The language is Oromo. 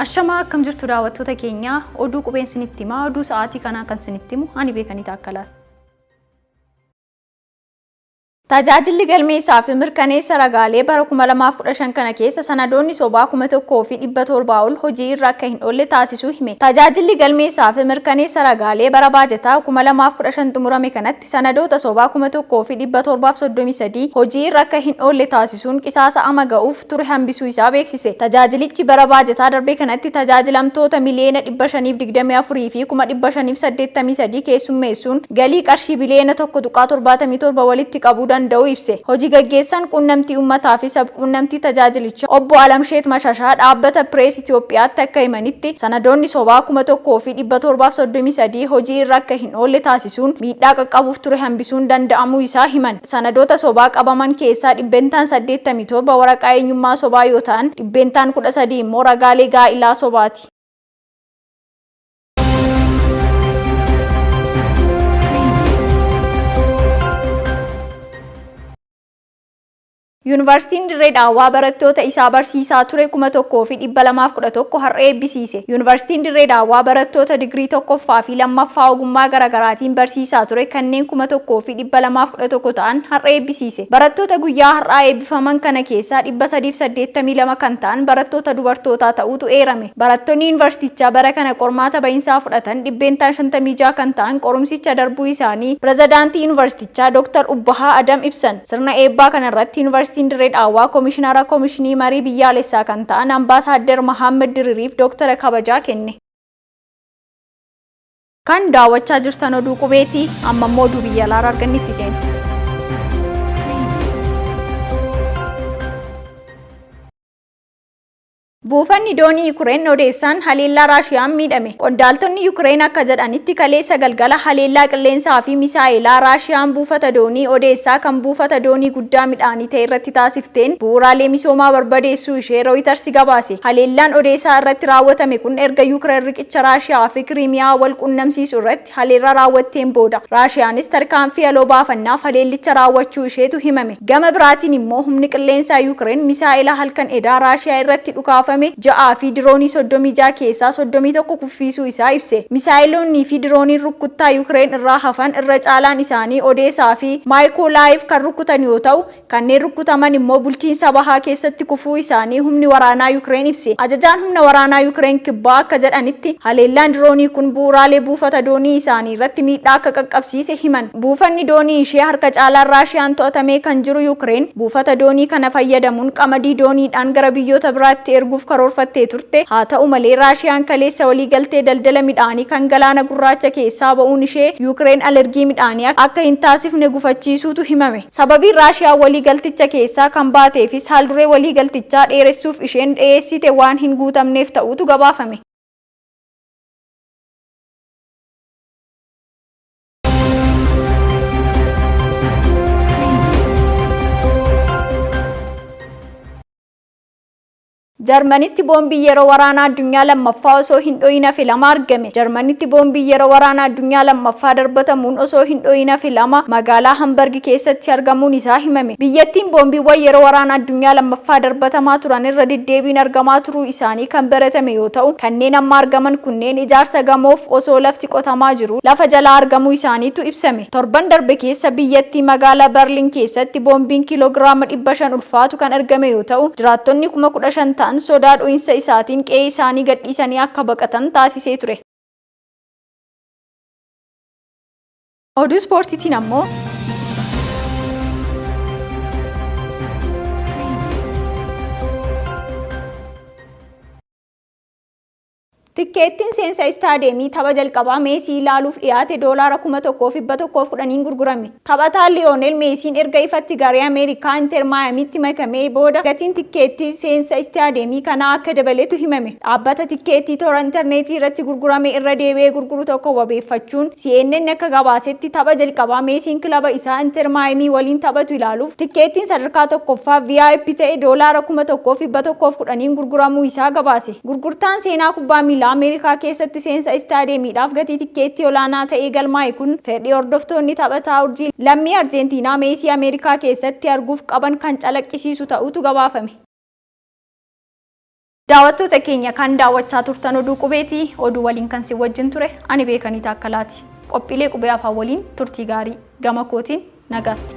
Ashamaa akkam jirtu daawwattoota keenya oduu qubeen sinitti himaa oduu sa'aatii kanaa kan sinitti himu ani beekanii taakkalaati. Tajaajilli galmeessaa fi mirkaneessa ragaalee bara 2015 kana keessa sanadoonni sobaa 1,700 ol hojii irra akka hin oolle taasisuu hime. Tajaajilli galmeessaa fi mirkaneessa ragaalee bara baajataa 2015 xumurame kanatti sanadoota sobaa 1,733 hojii irra akka hin oolle taasisuu taasisuun qisaasa ama ga'uuf ture hambisuu isaa beeksise. Tajaajilichi bara baajataa darbe kanatti tajaajilamtoota miliyeena 524 fi kuma 583 keessummeessuun galii qarshii biliyeena 1.77 walitti qabuu danda'uu ibse. Hoji gaggeessan quunnamtii ummataa fi sab-quunnamtii tajaajilicha obbo Alamsheet Mashashaa dhaabbata Pirees Itiyoophiyaatti akka himanitti, sanadoonni sobaa 1,733 hojii irra akka hin oolle taasisuun miidhaa qaqqabuuf ture hambisuun danda'amuu isaa himan. Sanadoota sobaa qabaman keessaa dhibbentaan 87 waraqaa eenyummaa sobaa yoo ta'an, dhibbeentaan 13 immoo ragaalee gaa'ilaa sobaati. Yuunivarsiitiin Dirree Dhaawaa barattoota isaa barsiisaa ture 1211 har'a eebbisiise. Yuunivarsiitiin Dirree Dhaawaa barattoota digirii tokkoffaa fi lammaffaa ogummaa garagaraatiin barsiisaa ture kanneen 1211 ta'an har'a eebbisiise. Barattoota guyyaa har'aa eebbifaman kana keessaa 382 kan ta'an barattoota dubartootaa ta'uutu eerame. Barattonni yuunivarsiitichaa bara kana qormaata bahinsaa fudhatan dhibbeentaan 56 kan ta'an qorumsicha darbuu isaanii Pirezidaantii Yuunivarsiitichaa. Jechaa Dr. Ubbahaa Adam ibsan. Sirna eebbaa kana irratti Yuunivarsiitiin Dirree Dhaawaa Komishinara Komishinii Marii Biyyaalessaa kan ta'an Ambaasaaddar Mahaammad Diririif Dooktara Kabajaa kenne. Kan daawwachaa jirtan oduu qubeeti. Amma immoo oduu biyya alaarraa argannetti ceena. Buufanni doonii Yukireen Odeessaan haleellaa Raashiyaan miidhame. Qondaaltonni Yukireen akka jedhanitti kaleessa galgala haleellaa qilleensaa fi misaa'elaa Raashiyaan buufata doonii Odeessaa kan buufata doonii guddaa midhaanii ta'e irratti taasifteen bu'uuraalee misoomaa barbadeessuu ishee Rooyitarsi gabaase. Haleellaan Odeesaa irratti raawwatame kun erga Yukireen riqicha Raashiyaa fi Kiriimiyaa wal quunnamsiisu irratti haleellaa raawwatteen booda Raashiyaanis tarkaanfii aloo baafannaaf haleellicha raawwachuu isheetu himame. Gama biraatiin immoo humni qilleensaa Yukireen misaa'ela halkan edaa Raashiyaa irratti dhukaafame ja'aa fi diroonii 36 keessaa 31 kuffiisuu isaa ibse. Misaa'eloonnii fi dirooniin rukkuttaa Yukireen irraa hafan irra caalaan isaanii Odeesaa fi Maayikoolaayiv kan rukkutan yoo ta'u, Kanneen rukkutaman immoo bulchiinsa bahaa keessatti kufuu isaanii humni waraanaa Yukireen ibse. Ajajaan humna waraanaa Yukireen kibbaa akka jedhanitti, haleellaan diroonii kun bu'uuraalee buufata doonii isaanii irratti miidhaa akka qaqqabsiise himan. Buufanni doonii ishee harka caalaan Raashiyaan to'atamee kan jiru Yukireen, buufata doonii kana fayyadamuun qamadii dooniidhaan gara biyyoota biraatti erguuf karoorfattee turte. Haata'u malee, Raashiyaan kaleessa waliigaltee daldala midhaanii kan Galaana Gurraacha keessaa ba'uun ishee Yukireen alergii midhaanii akka hin taasifne gufachiisuutu himame. Sababiin Raashiyaan waliigalticha keessaa kan baateefis haalduree waliigaltichaa dheeressuuf isheen dhiyeessiite waan hin guutamneef ta'uutu gabaafame. Jarmanitti boombiin yeroo waraanaa addunyaa lammaffaa osoo hin dho'iin hafe lama argame. Jarmanitti boombiin yeroo waraanaa addunyaa lammaffaa darbatamuun osoo hin dho'iin hafe lama magaalaa Hambargi keessatti argamuun isaa himame. Biyyattiin boombiiwwan yeroo waraana addunyaa lammaffaa darbatamaa turan irra deddeebiin argamaa turuu isaanii kan baratame yoo ta'u, kanneen amma argaman kunneen ijaarsa gamoof osoo lafti qotamaa jiruu lafa jalaa argamuu isaaniitu ibsame. Torban darbe keessa biyyattii magaalaa Barlin keessatti boombiin kiiloogiraama 500 ulfaatu kan argame yoo ta'u, jiraattonni 15,000 ta'an sodaa dho'insa isaatiin qe'ee isaanii gadhiisanii akka baqatan taasisee ture. Oduu ispoortiitiin ammoo. Tikkeettiin seensa istaadiyeemii tapha jalqabaa Meesii ilaaluuf dhiyaate doolaara 1,110n gurgurame. Taphataa Liyoonel Meesiin erga ifatti garee Ameerikaa Inter Maayamiitti makamee booda gatiin tikkeettii seensa istaadiyeemii kanaa akka dabaletu himame. Dhaabbata tikkeettii toora interneetii irratti gurgurame irra deebi'ee gurguru tokko wabeeffachuun CNN akka gabaasetti tapha jalqabaa Meesiin kilaba isaa Inter Maayamii waliin taphatu ilaaluuf tikkeettiin sadarkaa tokkoffaa VIP ta'e doolaara 1,110n gurguramuu isaa gabaase. Gurgurtaan seenaa kubbaa miilaa Ameerikaa keessatti seensa istaadiyeemiidhaaf gatii tikkeettii olaanaa ta'ee galmaa'e kun fedhii hordoftoonni taphataa urjii lammii Arjeentiinaa Meesii Ameerikaa keessatti arguuf qaban kan calaqqisiisu ta'uutu gabaafame. Daawwattoota keenya kan daawwachaa turtan oduu qubeeti. Oduu waliin kan sin wajjin ture ani Beekanii Taakkalaati. Qophiilee Qubee Afaan waliin turtii gaarii. Gama kootiin nagaatti.